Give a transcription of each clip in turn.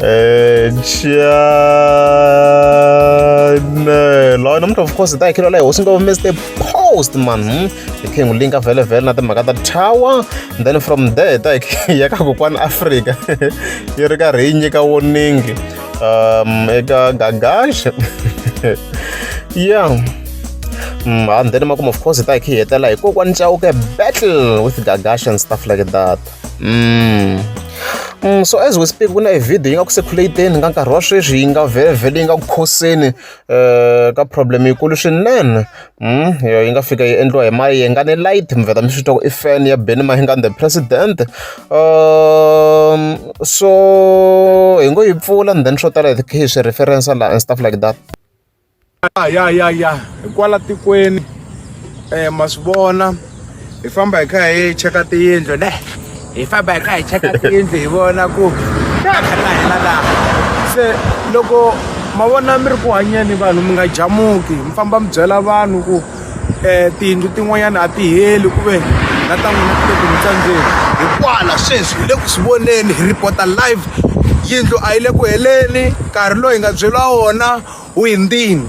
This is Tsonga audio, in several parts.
Eh, chane loyo nomntu of course ta ikhilo leyo hosi into miss the post man hmm? ikhe ngulinka vele vele na timhaka ta tower and then from there ta ya ka kokwani africa yi ri karhi yi nyika warning um eka gagaxe yeah mm, and then makumu of course ta ikhi hetela hi kokwani chauke battle with gagaxe and stuff like that Mm. Mm, so as we speak ku na e video yi nga ku circulating ka nkarhi wa sweswi yi nga vhele yi nga ku khoseni um ka problem yikulu swinene mm, yi nga fika yi endliwa hi mayenga ni light mi vheta mi swi twa ku i fan ya benny mahinga the president um so hi ngo yi pfula and then swo tala hi hi swi referensa laha and stuff like that ya ya ya ya hi kwala tikweni um ma swi vona hi famba hi kha hi cheka tiyindlu ne hi famba hi kha hi cheka tiyindlu hi vona ku ta hela laha se loko ma vona mi ri ku hanyeni vanhu mi nga jamuki mi famba mi byela vanhu ku um tiyindlu tin'wanyana a ti heli ku ve na ta n'wina kumbe tiyindlu ta ndzeni hi kwala sweswi hi le ku swi voneni hi report-a live yindlu a yi le ku heleni nkarhi lowu hi nga byeriwa wona O endeni.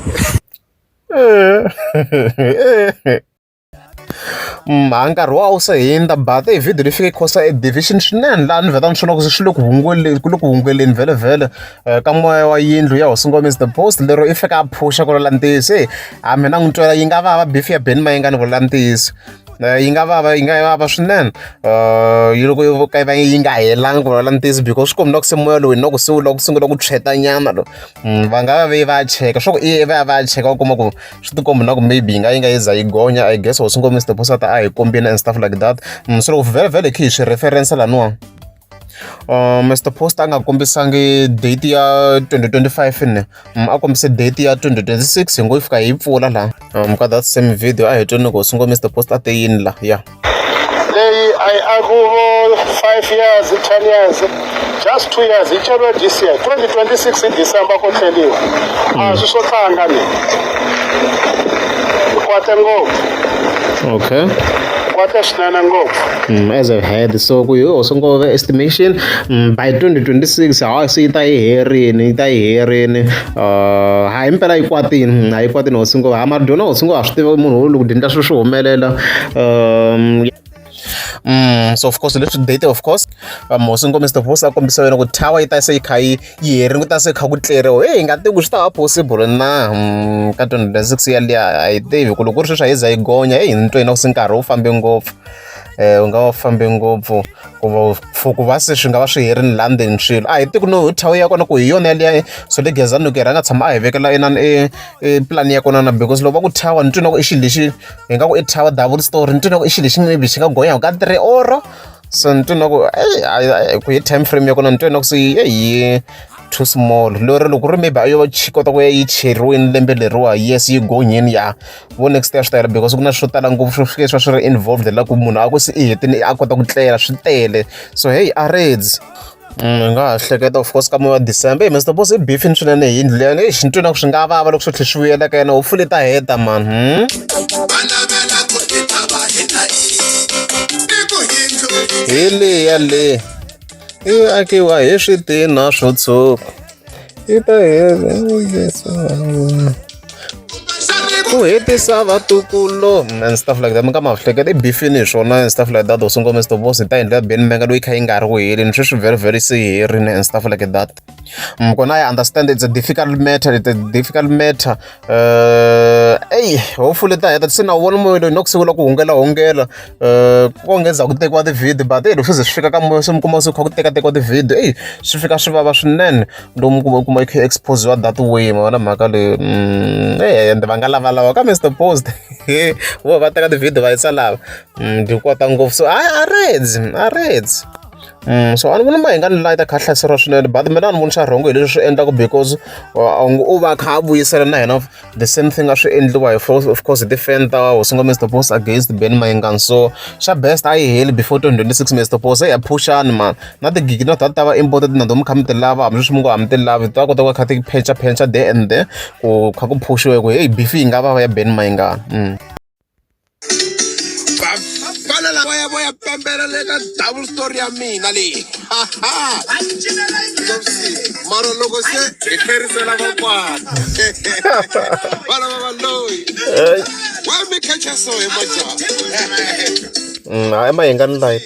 mhaka nkarhi wa wu se hundza but i video leyi fike yi khosa e division swinene laha ni vheta ni swona ku swi le ku hunguleni ku le ku hunguleni vhele eh, ka moya wa yindlu ya hosi ngoma is the post lero i fika a phusha ku lola ntiyiso e a mina n'wi twela yi nga vava bifi ya beni ma yi nga ni vula ntiyiso eh, yi nga vava yi nga vava swinene eh, yi loko yi ka yi va yi nga helanga ku lola ntiyiso because swi kombela ku se moya lowu hi na ku se wu lava ku sungula ku tshwetanyana lo Mm, va nga va ve va cheka swa ku i va ya va ya cheka u kuma ku swi tikombi na ku maybe yi nga yi nga yi za yi gonya i guess was ngo mr posata a hi kombina and stuff like that mm, so loko vhele vhele khe hi swi reference laniwa uh, mr post a nga kombisangi date ya 2025 ne mm, a kombise date ya 2026 hi ngo yi fika hi pfula laha um, ka that same video a hi tweni loko swi ngo mr post a te yini la ya yeah. leyi a yi akuvo five years ten years just two years yi ceriwe this year twenty twenty six hi december ko tlheliwa a swi swo tlanga ni kwate ngopfu okay kwate swinene ngopfu Mm, as I've heard so ku yo so ngove estimation mm, by 2026 ha se yi ta yi herini yi ta yi herini Uh, hayi impela yi kwatini a yi kwatini hosi ngo ha mara dyona hosi ngo ha swi tiva munhu wo loko dyendla swilo swi humelela um Mm, so of course leswi date of course vamosi um, ngomisa vosi a kombisa wena ku tower yi ta se yi kha yi yi herini ku ta se kha ku tleriwa heyi nga tivi ku swi ta va possible na mm, ka twenty twenty six yaliya a yi tivi ku loko ku ri sweswi a yi za yi gonya heyi ni twa yina ku se nkarhi wu fambe ngopfu um u nga wa fambe ngopfu ku for ku va se swi nga va swi herini laha ndzeni swilo a hi tiku no thawu ya kona ku hi yona yaliya so le gezani loko hi rhanga tshama a hi vekela inani e, e pulani ya kona na because loko va ku thawa ni twi na ku i xilo lexi hi nga ku i thawa double story ni twi na ku i xilo lexi maybe xi nga gonya ka three or so ni twi na ku ku hi time frame ya kona ni twi na ku se eyi too small lero loko ri maybe a yo kota ku ya yi cheriweni lembe leriwa yes yi gonyeni ya vo next ya swi tayela because ku na swo tala ngopfu swo fike swa swi ri involved la ku munhu a ku se i hetini a kota ku tlela swi tele so hey a reds mm, nga ha hleketa of course ka moya wa december hey mr boss i beefini swinene hi yindlu leyani exi ni twinaku swi nga vava loko swi tlhe swi vuyela ka yena hopefully ta heta mani hmm? hi leya leyi yi akiwa hi switina swo tshuka Ita hela ku hetisa vatukulu and stuff like that mi ka ma hleketa i bifini hi swona and stuff like that or sungula mr boss hi ta endlela beni menga loyi kha yi nga ri ku heleni sweswi very very se herini and stuff like that mm, kona i understand it's a difficult matter it's a difficult matter eyi hopefully ta heta se na wu vona moya loyi na ku sungula ku hungela hungela um ku onge ndzhaku tekiwa ti-video but eyi loko swi ze swi fika ka moya se mi kuma se kha ku tekatekiwa ti-video eyi swi fika swi vava swinene lowu mi kuma kuma yi kha exposiwa that way ma vona mhaka leyi mm, e ende va nga lavalava ka mr post vo va teka ti-video va yisa lava mm, ndzi kota ngopfu so a a reds a reds so a ni vona mahinga ni layi ta kha hlaseriwa swinene but mina a ni voni swa rhongo hi leswi swi endlaka because a nge u va kha a vuyisela na hina the same thing a swi endliwa hi of course hi ti-fan ta hosingo mr boss against ben mayengani so xa best a yi heli before 2026 mr boss a hi ya phuxani mani na tigigi na ta ta va imported na to mi kha mi ti lava hambileswi mi ngo ha mi ti lavi ta kota ku va kha ti phencha phencha there and there ku kha ku phuxiwe ku heyi bifi yi nga va va ya ben mayengani mm. vafana lava ya vo ya pembela le ka double story ya mina leyi mara loko se hi tlherisela vakwana vana va valoyi wa mi khecha so hi majaha mm, hayi ma hi nga ni light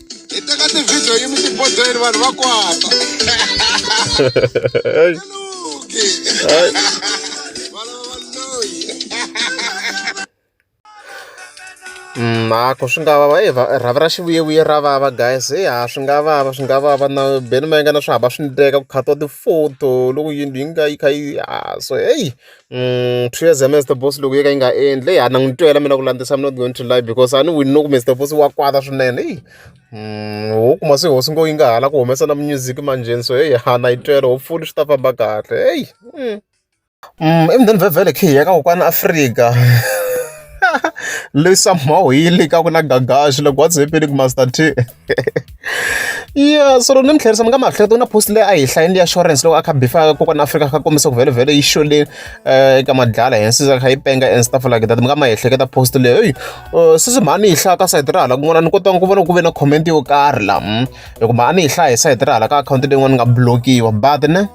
hi teka tivhidiyo yimi xibodzweni vanhu va kwata luki valava loyi mhako swi nga vava e rhavi ra xivuyevuye ra vava guys e ha swi nga vava swi nga vava na beni ma yinga na swi hava swi ndleka ku khatiwa ti-photo loko yindlu yi nga yi kha yi ha so heyi swi ya za Mister Boss loko yo ka yi nga endli heyi a ni n'wi twela mina ku landzisa I'm not going to lie because a ni wini no ku Mister Boss wa kwata swinene heyi ho kuma se hosi ngo yi nga ha lavi ku humesa na music manjhe so heyi a na yi twela hopefully swi ta famba kahle heyi i mudende vhevhele khe hi ya ka kokwani Afrika leyi somehow yi le ka ku na Gagash loko what's happening Master T. ya so ni mi tlherisa mi nga ma hleketa ku na post leyi a hi hlayini ya insurance loko a kha bifa kokwana afrika kha kombisa ku vhele vhele yi xoleni eh, eka madlala hensi za kha yi penga and stuff like that mi nga ma hi hleketa post leyo eyi eh, sisi mhani yi hlaya ka sayiti ra hala kun'wana ni kotanga ku vona ku ve na comment yo karhi la hmm. hikuva a ni yi hlaya hi sayiti ra hala ka akhawunti leyin'wana ni nga blokiwa but ne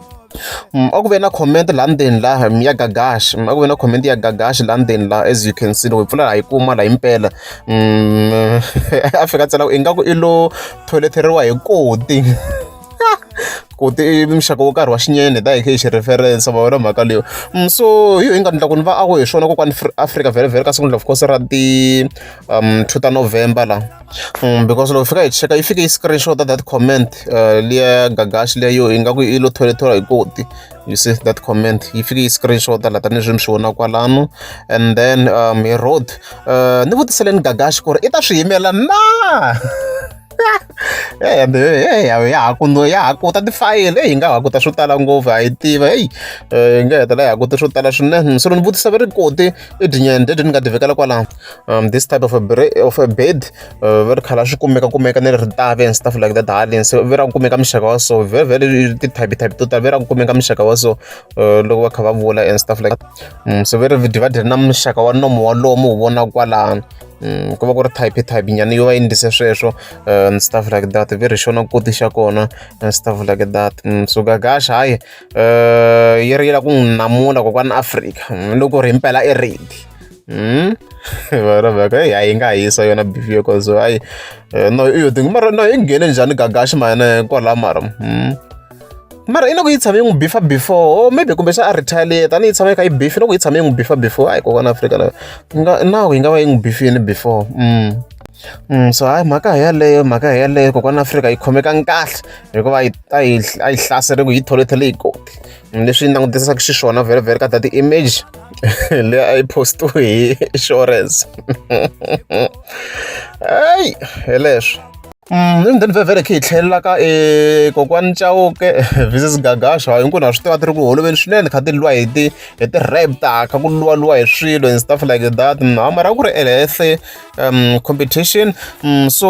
a ku ve na comment laha ndzeni la ya gagash a ku ve na comment ya gagash laha ndzeni la as you can see loko hi pfula hi kuma la impela mm, a fika tsela ku ingaku i lo tholeteriwa hi koti ku ti muxaka wo karhi wa xinyene da hi xi reference va vona mhaka leyo mm, so hi yo inga ndla ku ni va a ku hi swona kokwani africa vhele vhele ka siku of course ra ti um two ta november la Mm, because loko fika hi cheka yi fike yi screenshot that comment uh, liya ya gagashi liya yo ingaku i lo tholethola hi koti you see that comment yi fike yi screenshot la tanihileswi mi swi vona kwalano and then um hi road uh, ni vutiseleni gagashi ku ri i ta swi yimela na ya ha kuno ya ha kuta tifayele eyi nga ha kuta swo tala ngopfu ha yi tiva eyi hi nga hetela hi ha kuta swo tala swinene se lo ni vutisa va ri koti i dyinyende dyi ni nga ti vekela kwalano um, this type of a, of a bed uh, va ri khala swi kumeka kumeka ni ritavi and stuff like that haleni so ve ra ku kumeka muxaka wa so very very ti-type type to tala ve ra ku kumeka muxaka wa so uh, loko va kha va vula and stuff like that um, so ve ri divided na muxaka wa nomo wa lomu wu vona kwalano um ku va ku ri type type nyana yo va endlise sweswo uh, and stuff like that ve ri xona koti xa kona and stuff like that um, so gagash hayi um yi ri yi la ku n'wi namula kokwana afrika loko ri impela i ridi Hmm? varavaka eyi hayi yi nga hisa yona beef yo cause hayi eh, no iyo thing mara no yi nghene njhani gagaxi mane kwala mara hmm? mara i loko yi tshame yi n'wi bifa before o oh, maybe kumbe xa a retaliate a ni yi tshama yi kha yi bifi loko yi tshame yi n'wi bifa before hayi kokwana afrika na nga nawu yi nga va yi n'wi bifini before mm. Mm, so hayi mhaka hi yaleyo mhaka hi yaleyo kokwana afrika yi khomeka nkahle hikuva a yi hlaseriku yi tholethele yi koti leswi langutisaka xiswona vhele vhele ka ta ti-image leyi a yi postiwe hi insurance eyi hi leswo Mm, then vhevhele khe hi tlhelela ka e kokwani chauke vises gagasha hinkwenu na swi tiva ti ri ku holoveni swinene kha ti lwa hi ti hi ti rapta kha ku luwalua hi swilo and stuff like that mm, ha mara ku ri elehle um competition mm, so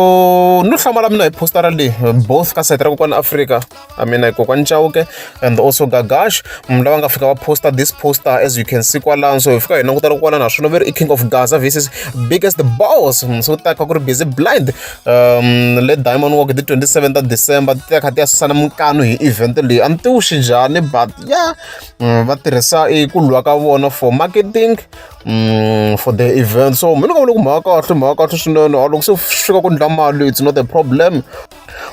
no hlamala mina hi postara leyi both ka site ra kokwani afrika I mean like kokwani Chauke and also Gagash munhu lava nga fika va poster this poster as you can see kwalano so hi fika hi langutela kwala naswona veri i king of Gaza versus biggest boss mm, so taka ku ri busy blind um le Diamond Walk the 27th of December ti kha ti ya susana minkano hi event leyi a ni tiwuxi njhani but ya mm, va tirhisa i ku lwa ka vona for marketing mm, for the event so mina ka vona ku mhaka kahle mhaka kahle swinene loko se fika ku ndla mali it's not a problem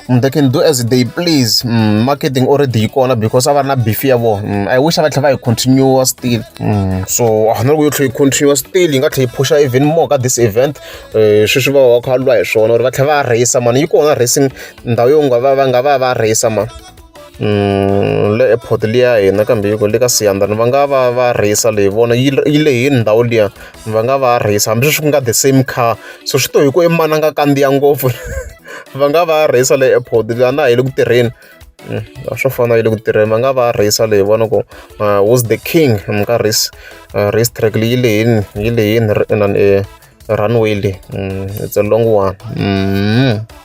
Mm, they can do as they please mm, marketing already yi kona because a va ri na beef ya vona mm, i wish a va tlhela va yi continue still mm, so a ah, ni ri ku yo tlhela yi continue still yi nga tlhela yi phusha even more ka this event um eh, sweswi va va kha lwa hi swona or va tlhela va rheyisa mani yi kona racing ndhawu yo nga va va nga va va rheyisa mani Mm, le airport liya hina kambe yiko le ka siyandani va nga va va rheyisa leyi vona yi lehini ndhawu liya va nga va rheyisi hambileswi ku nga the same car so swi to hi ku i mani a nga kandziya ngopfu va nga va rheyisa le airport la na hi le ku tirheni mm, a swo fana yi le ku tirheni va nga va rheyisa leyi vona ku uh, was the king mi ka race uh, race track leyi yi lehini yi lehini runway leyi mm, it's a long one mm.